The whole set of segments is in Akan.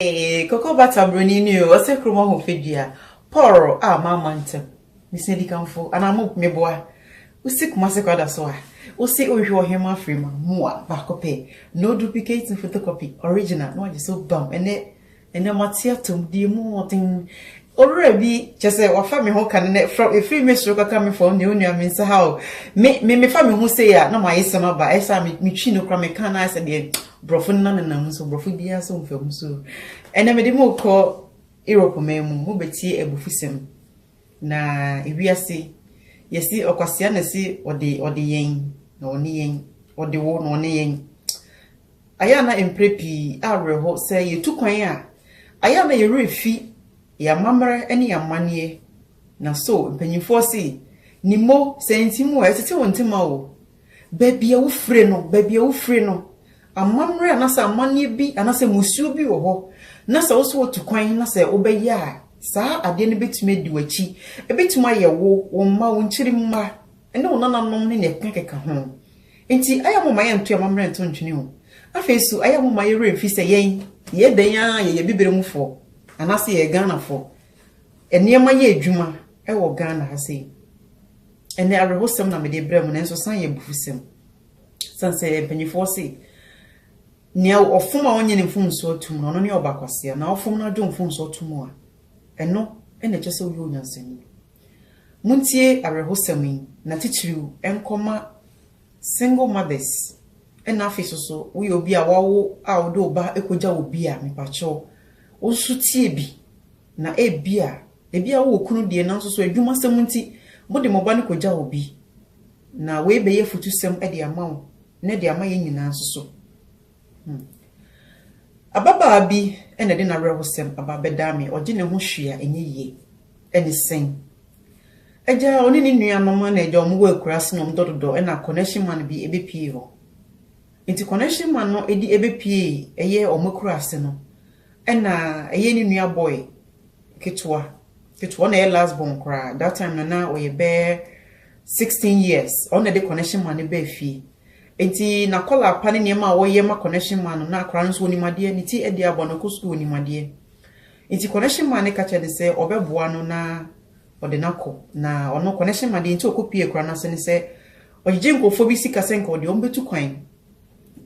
Eeii cocoa butter broni ni oo ɔsɛ krom ɔho fadua pɔrr ah mama ntem mesua dikanfo anaa mo meboa wosi kumase kwa daso ah wosi wohwehwɛ ɔhema firi ma mua baako pɛ no duplicate no photocopy original na wagye so bam ɛnɛ ɛnɛ mate atom die mu hoɔden Owura bi, kyerɛ sɛ wafa me ho ka no nnɛ, frɛ wo, ɛfiri me soro kɔka me fam deɛ onua me nsa ha o. Me, me, mefa me ho sei a, na m'ayesɛm aba, ɛyɛ saa a, me, metwi no koraa, meka no ara sɛ deɛ borɔfo no nanenam mu, so borɔfo biara so mfa mu. So, ɛnnɛ mede mo rekɔ Europe man mu, mobɛtie abufusɛm. Na ewiase, yɛsi ɔkwasea na ɛsi ɔde, ɔde yɛn, na ɔne yɛn, ɔde wo, na ɔne yɛn. Ayɛ a na mprɛ pii awerɛho sɛ yɛtu kwan a, ayɛ a na yɛn werɛ fi yɛn amammerɛ ne yɛn amanneɛ. Na so mpanyimfoɔ se, Ni mo, sɛ nti mo a, ɛtete wo ntema o. Baabi a wofire no, baabi a wofire no, amammerɛ anaasɛ amanneɛ bi anaasɛ mmusuo bi wɔ hɔ, na sɛ wo nso wotu kwan na sɛ wobɛyɛ a, saa adeɛ no bɛtumi adi w'akyi. Ɛbɛtumi ayɛ wo, wo mma, wo nkyirimma, ne wo nananom ne nea ɛkekakeka ho. Enti ɛyɛ a momma yɛnto yɛn amammerɛ nto ntwene o. Afei nso, ɛyɛ a momma yɛn werɛ mfi sɛ yɛn, yɛyɛ dɛn ara yɛyɛ Abibire mufoɔ, anaasɛ yɛyɛ Ghanafoɔ. Nneɛma yɛ adwuma wɔ Ghana ha sei. Ɛnnɛ, awerɛhosɛm na mede rebrɛ mo, nanso san yɛ abufusɛm. Ɛsiane sɛ mpanimfoɔ se, Nea ɔfom a ɔnnye ne mfomsoɔ tom no, ɔno ne ɔbakwasea, na ɔfom na ɔgye wo mfomsoɔ to mu a, ɛno na ɛkyerɛ sɛ woyɛ onyansani. Montie awerɛhosɛm yi, na titiriw nkɔma single mothers na afei so so woyɛ obi a wawo a wode wo ba kogya obi a, mepakyɛw, wo nso tie bi. Na ebia, ebia wowɔ kunu deɛ nanso so adwumasɛm nti mode mo ba no kogya obi. Na wei bɛyɛ afutusɛm de ama wo ne de ama yɛn nyinaa nso so. Hmm. Ababaa bi na ɛde n'awerɛhosɛm aba bɛdaa me, ɔgye ne ho hwee a ɛnyɛ yie. Ɛne sɛn? Agya a ɔne ne nuanom na agya wɔn wɔ akuraase na wɔn dɔdodɔ na connection man bi ɛbɛpie hɔ. Nti connection man no ɛdi ɛbɛpie ɛyɛ wɔn akuraase no ɛna ɛyɛ ne nua boy ketewa ketewa ɔna ɛyɛ last born koraa that time no na ɔyɛ bɛɛ 16 years ɔna ɛde connection man no bɛɛ fie. Enti na kɔla apa ne nneɛma a wɔyɛ ma connection man no, na akwadaa no nso onim adeɛ, ne ti adi abɔ no, ɔkɔ sukuu onim adeɛ. Enti connection man no ka kyerɛ no sɛ ɔbɛboa no na ɔde no akɔ, na ɔno connection man deɛ nti ɔkɔ pie akwadaa no ase ne sɛ ɔgyegye nkurɔfoɔ bi sika sɛ nka ɔde wɔn bɛtu kwan,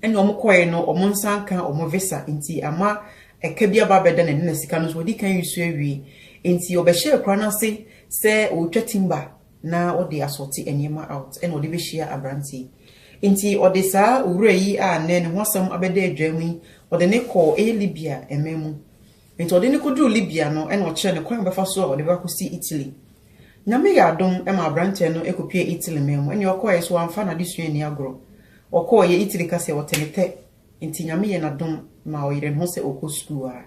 ɛna wɔn kɔe no wɔn nsa anka wɔn visa nti ama ɛka bi aba abɛda n'ani na sika no nso wadi kan resu awie. Enti ɔbɛhyɛɛ akwadaa no ase sɛ ɔretwa timber na ɔde asɔɔte nneɛma out na ɔde bɛhyia aberante yi. Enti ɔde saa owura yi a nnɛ ne ho asɛm abɛda adwam yi, ɔde no kɔɔ ɛyɛ Libya mmɛn mu. Enti ɔde no kɔduruu Libya no na ɔkyerɛɛ no kwan a ɔbɛfa so a ɔde bɛba akɔsi Italy. Nyame yɛɛ adom ma aberantɛ no kɔpuee Italy mmɛn mu. Ɛnneɛ ɔkɔeɛ nso wamfa n'adesua anni agorɔ. Ɔkɔeɛ, Italy ka sɛ ɔtɛnetɛ Enti Nyame yɛ n'adom ma ɔyeree ne ho sɛ ɔkɔ sukuu ara.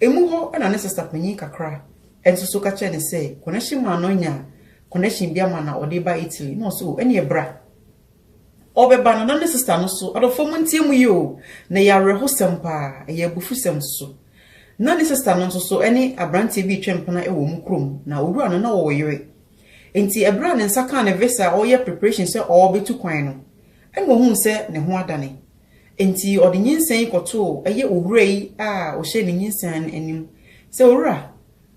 Emu hɔ na ne sista panyin kakra nso so ka kyerɛɛ no sɛ connection man no anya connection bi ama no a ɔde reba Italy na ɔse oh ɛneɛ bra. Ɔrebɛba no na ne sista no so, adɔfoɔ montie mu yi o, na ɛyɛ awerɛhosɛm paa, ɛyɛ abufusɛm nso. Na ne sista no nso so ne abranteɛ bi retwe mpena wɔ wɔn kurom na owura no na ɔwɔ yere. Enti ɛberɛ a ne nsa kaa ne visa a ɔreyɛ preparation sɛ ɔrebɛtu kwan no, Ɛnna ɔhuu sɛ ne ho adane. Enti ɔde nyinsɛn yi kɔtoo ɛyɛ owura yi a ɔhyɛɛ ne nyinsɛn no anim sɛ, Owura,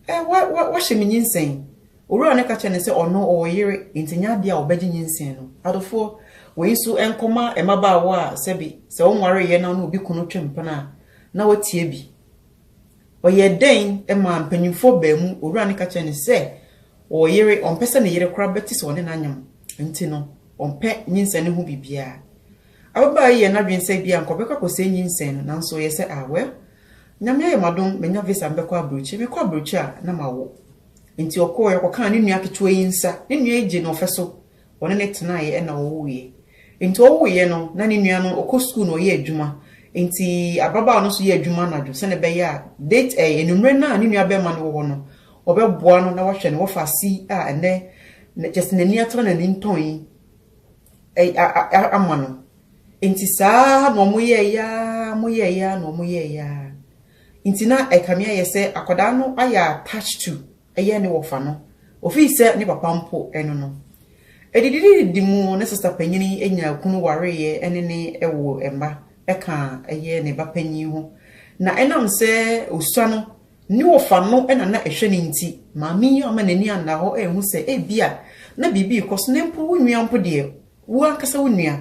ɛ, wa, wa, wahyɛ me nyinsɛn. Owura no ka kyerɛɛ no sɛ ɔno ɔwɔ yere, enti ɛnyɛ adeɛ a ɔbɛgye nyinsɛn no. Adofoɔ, wei nso nkɔma mmabaawa a sɛbe sɛ wɔnwareeɛ na wɔne obi kunu twe mpena a, na wɔatia bi. Ɔyɛɛ dɛn maa mpanimfoɔ baanu? Owura no ka kyerɛɛ no sɛ, Ɔyere, ɔmpɛ sɛ ne yere koraa bɛte sɛ ɔne no anyem nti no, ɔmpɛ nyinsɛn no ho biribiara. Ababaa yi yɛ n'adwene sɛ ebia anka ɔbɛkɔ akɔsɛe nyinsɛn no, nanso ɔyɛ sɛ, Ah, well, Nyame ayɛ m'adom, manya visa mebɛkɔ aburokyire, mekɔ aburokyire a na mawo. Enti ɔkɔeɛ, ɔkɔkaa ne nua ketewa yi nsa, ne nua yi gyee no ɔfɛ so, wɔne no tenaeɛ ɛna ɔwuiɛ. Nti ɔwuiɛ no na ne nua no ɔkɔ sukuu na ɔyɛ adwuma nti abrabaawa no nso yɛ adwuma anadwo sɛdeɛ ɛbɛyɛ a date ɛɛ anwummerɛ no a ne nua bɛrima no wɔ hɔ no ɔbɛboa no na wahwɛ no wɔfa asi a ɛnɛ kyɛ sɛ n'ani atena n'ani ntɔn yi ama no nti saa na wɔn yɛ yɛ ara wɔn yɛ yɛ ara na wɔn yɛ yɛ ara nti na ɛkame ayɛ sɛ akwadaa no ayɛ attached to yɛ ne wɔfa no ofii sɛ ne papa mpo no no. Adidididi mu ne sista panyin yi nyaa kunu wareeɛ ne ne woo mma ka yɛ ne ba panyin ho na ɛnam sɛ osua no ne wɔfa no na na ɛhwɛ no nti maame yi amma n'ani anna hɔ anhu sɛ ebia na biribi rekɔ so na mpo wo nua mpo deɛ wo ankasa wo nua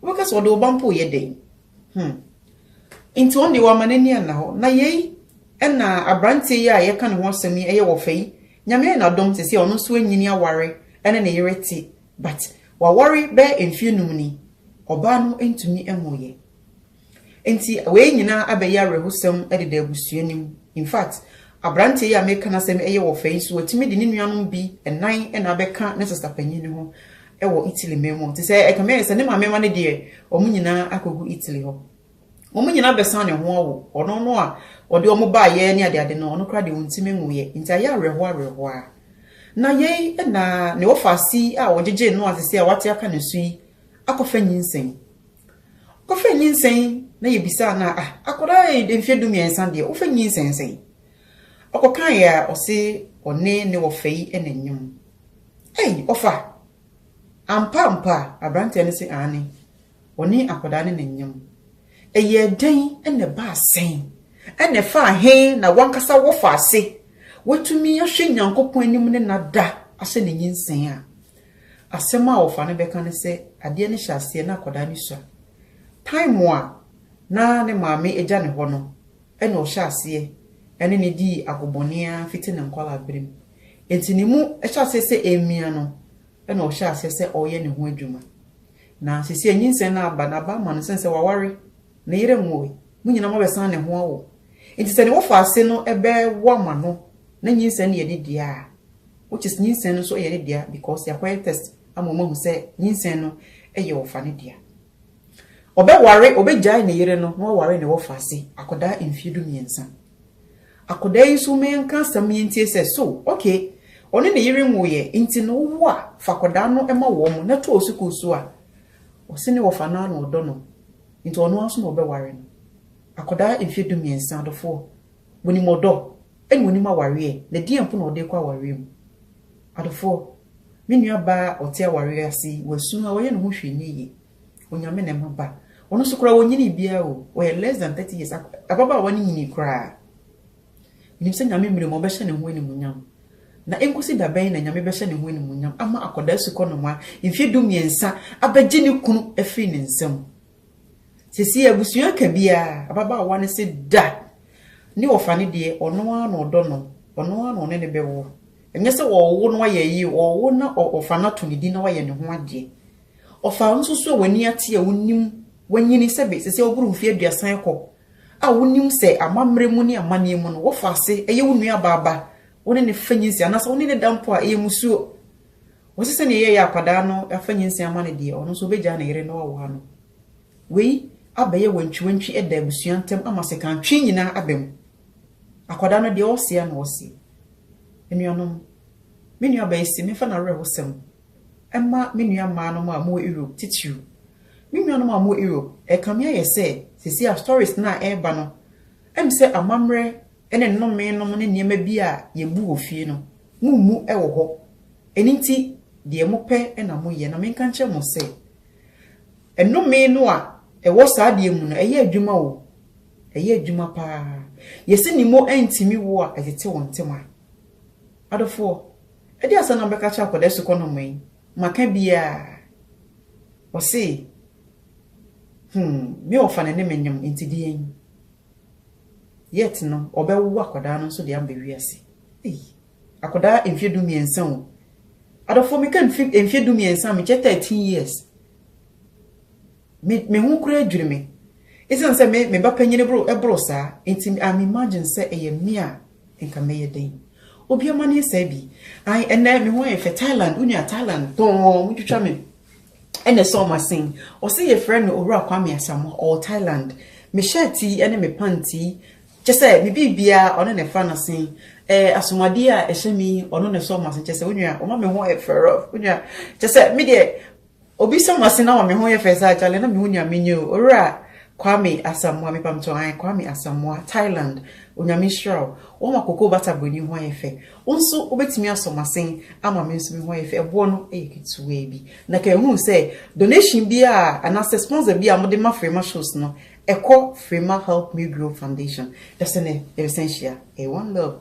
wobɛka sɛ ɔde wo ba mpo reyɛ dɛn? Hmm. Nti ɔno deɛ wama n'ani anna hɔ. Na yei ɛna aberanteɛ yi a yɛka ne ho asɛm yi ɛyɛ wɔ fɛ yi. Nyame ayɛ no adom sɛsei a ɔno nso anyini aware ɛne ne yere te but waware bɛyɛ mfeɛ num ni ɔbaa no ntumi nwooyɛ. Nti wei nyinaa abɛyɛ awerɛhosɛm deda abusua no mu. In fact aberanteɛ yi a meka n'asɛm ɛyɛ wɔ fɛ yi nso watumi de ne nuanom bi nnan na abɛka ne sista panyin no ho wɔ Italy man mu. Te sɛ ɛkame ayɛ sɛ ne maame mma no deɛ, wɔn nyinaa akɔgu Italy hɔ. Wɔn nyinaa bɛsan ne ho awo. Ɔno no a ɔde wɔn baeɛ ne adeade no, ɔno koraa deɛ ɔntumi nwoeɛ. Enti ayɛ awerɛhoɔ awerɛhoɔ ara. Na yei na ne wɔfaase yi a wɔgyegyee no a seesei a wate aka ne so yi akɔfa nyinsɛn. Ɔkɔfaa nyinsɛn na yɛbisaa no a, ah, akwadaa yi de mfeɛ dumiɛnsa deɛ, wofa nyinsɛn sɛn? Ɔkɔkaeɛ a, ɔse ɔne ne wɔfa yi na ɛnyem. Ei, ɔfa? Ampa ampa? Aberanteɛ no se, Aane. Ɔne akwadaa no na nyam. Ɛyɛɛ dɛn na ɛbaa sɛn? Ɛna ɛfaa he na w'ankasa wofa ase? Woatumi ahwɛ Nyankopɔn anim ne no ada ahyɛ ne nyinsɛn a? Asɛm a ɔfa no bɛka ne sɛ, adeɛ no hyɛ aseɛ na akwadaa no sua. Time a na ne maame agya ne hɔ no, ɛna ɔhyɛ aseɛ ne no dii agobɔne ara fiti ne nkwadaa berɛ mu. Enti ne mu hyɛ aseɛ sɛ ɛremia no, ɛna ɔhyɛ aseɛ sɛ ɔreyɛ ne ho adwuma. Na seesei nyinsɛn no aba, na aba ama no sɛne sɛ waware, ne yere nwoe, mo nyinaa moabɛsan ne ho awo. Enti sɛ ne wo faase no bɛwo ama no, na nyinsɛn no yɛ ne dea a, which is nyinsɛn no nso yɛ ne dea because yɛakɔyɛ test ama wɔahu sɛ nyinsɛn no yɛ ɔfa no dea. Ɔbɛware, ɔbɛgyae ne yere no na waware ne wɔfaase akwadaa mfeɛ du mmiɛnsa. Akwadaa yi nso ma yɛnka asɛm no yɛntie sɛ, so, okay, ɔne ne yere nwoeɛ nti no wowo a, fa akwadaa no ma wɔn na to wɔ sukuu so a, ɔse ne wɔfa no ara na ɔdɔ no nti ɔno ara nso na ɔbɛware no. Akwadaa mfeɛ du mmiɛnsa, adɔfoɔ, monim ɔdɔ? Ɛna onim awareɛ ɛ, na deɛn mpo na ɔde rekɔ awareɛ mu? Adofoɔ, me nua baa a ɔte awareɛ ase yi, wasu na wayɛ ne ho hwee nyɛ yie. Onyame na ɛma ba. Ɔno nso koraa ɔnyinii biara o, ɔyɛ less than thirty years, ababaawa no nyinii koraa. Menim sɛ Nyame mmerɛ mu ɔbɛhyɛ ne ho animuonyam. Na ɛnkɔsi da bɛn na Nyame bɛhyɛ ne ho animuonyam ama akwadaa sukɔnomaa mfeɛ du mmiɛnsa abɛgye ne kunu afiri ne nsa mu? Seesei abusua ka biara, ababaawa no se da ne ɔfa no deɛ ɔno ara na ɔdɔ no, ɔno ara na ɔne no bɛwo. Ɛnyɛ sɛ ɔrewo na wayɛ ayi o, ɔrewo na ɔfa no ato ne din na wayɛ ne ho adeɛ. Ɔfa wo nso so a w'ani ate a wonim wanyini sɛ be seesei woboro mfeɛ aduasa rekɔ a wonim sɛ amammerɛ mu ne amanneɛ mu no wofa ase yɛ wo nuabaa ba, wo ne no fa nyinsɛn anaasɛ wo ne no da mpo a ɛyɛ mmusuo. Ɔse sɛnea ɛyɛ yɛ akwadaa no fa nyinsɛn ama no deɛ ɔno nso ɔbɛgyaa ne yere na wawoa no. Wei abɛyɛ wantwiwantwi ɛda abusua ntam ama sekan twe nyinaa aba mu. Akwadaa no deɛ ɔse a na ɔse. Anuanom, me nua baa yi se memfa n'awerɛhosɛm mma me nua mmaa nom a wɔwɔ Europe titiriw. Me nuanom a wɔwɔ Europe, ɛkame ayɛ sɛ seesei a stories no a ɛreba no, ɛm sɛ amammerɛ ne nnome nom ne nneɛma bi a yɛbu wɔ fie no, Mummu wɔ hɔ. Ɛno nti, deɛ mopɛ na moyɛ. Na menka nkyerɛ mo sɛ, Nnome no a ɛwɔ saa adeɛ mu no, ɛyɛ adwuma o, ɛyɛ adwuma pa ara. Yɛse ne mo antumi wo a, ɛtete wɔn ntɛm a. Adɔfoɔ, ɛdeɛ ansa na mobɛka akyerɛ akwadaa sukɔnɔmma yi, moaka biara? Wɔse, Hum, me wɔfa no ne me nyom, enti deɛn? Yet no ɔbɛwo akwadaa no nso de aba wiase. Ei! Akwadaa mfeɛ du mmiɛnsa o. Adɔfoɔ meka mfeɛ du mmiɛnsa mekyɛ 13 years. Me, me ho koraa dwiri me. Ɛsiane sɛ me, me ba panyini boro, ɛboro saa, nti I'm imagine sɛ ɛyɛ me a nka mɛyɛ dɛn. Obi amanneɛ saa bi. Ae, ɛnnɛ me ho ayɛ fɛ, Thailand, wo nua Thailand, tɔɔn, wotwitwa me. na ɛsɔɔ m'asen. Ɔse yɛfrɛ no Owura Kwame Asamoah, ɔwɔ Thailand. Me shirt yi ne me pant yi, kyerɛ sɛ me biribiara ɔno na ɛfra n'asen. Ɛɛ asomadeɛ a ɛhyɛ me yi ɔno na ɛsɔɔ m'asen, kyerɛ sɛ wo nua ɔma me ho yɛ fɛ rough, wo nua, kyerɛ sɛ me deɛ obi sɔ m'asen ama me ho yɛ fɛ saa kyale na me ho nua menye o, Owura Kwame Asamoah, mepamtɔ ae, Kwame Asamoah, Thailand, Onyame nhyira wo, wama Cocoa Butter Buroni ho ayɛ fɛ. Wo nso wobɛtumi asɔ m'asen ama me nso me ho ayɛ fɛ. Ɛboɔ no yɛ ketewaa bi. Na kan hu sɛ donation biara anaasɛ sponsor biara a mode ma Freema shows no, ɛkɔ Freema Help Me Grow Foundation. Dasene yɛbɛsan hyia. Ɛyɛ one love.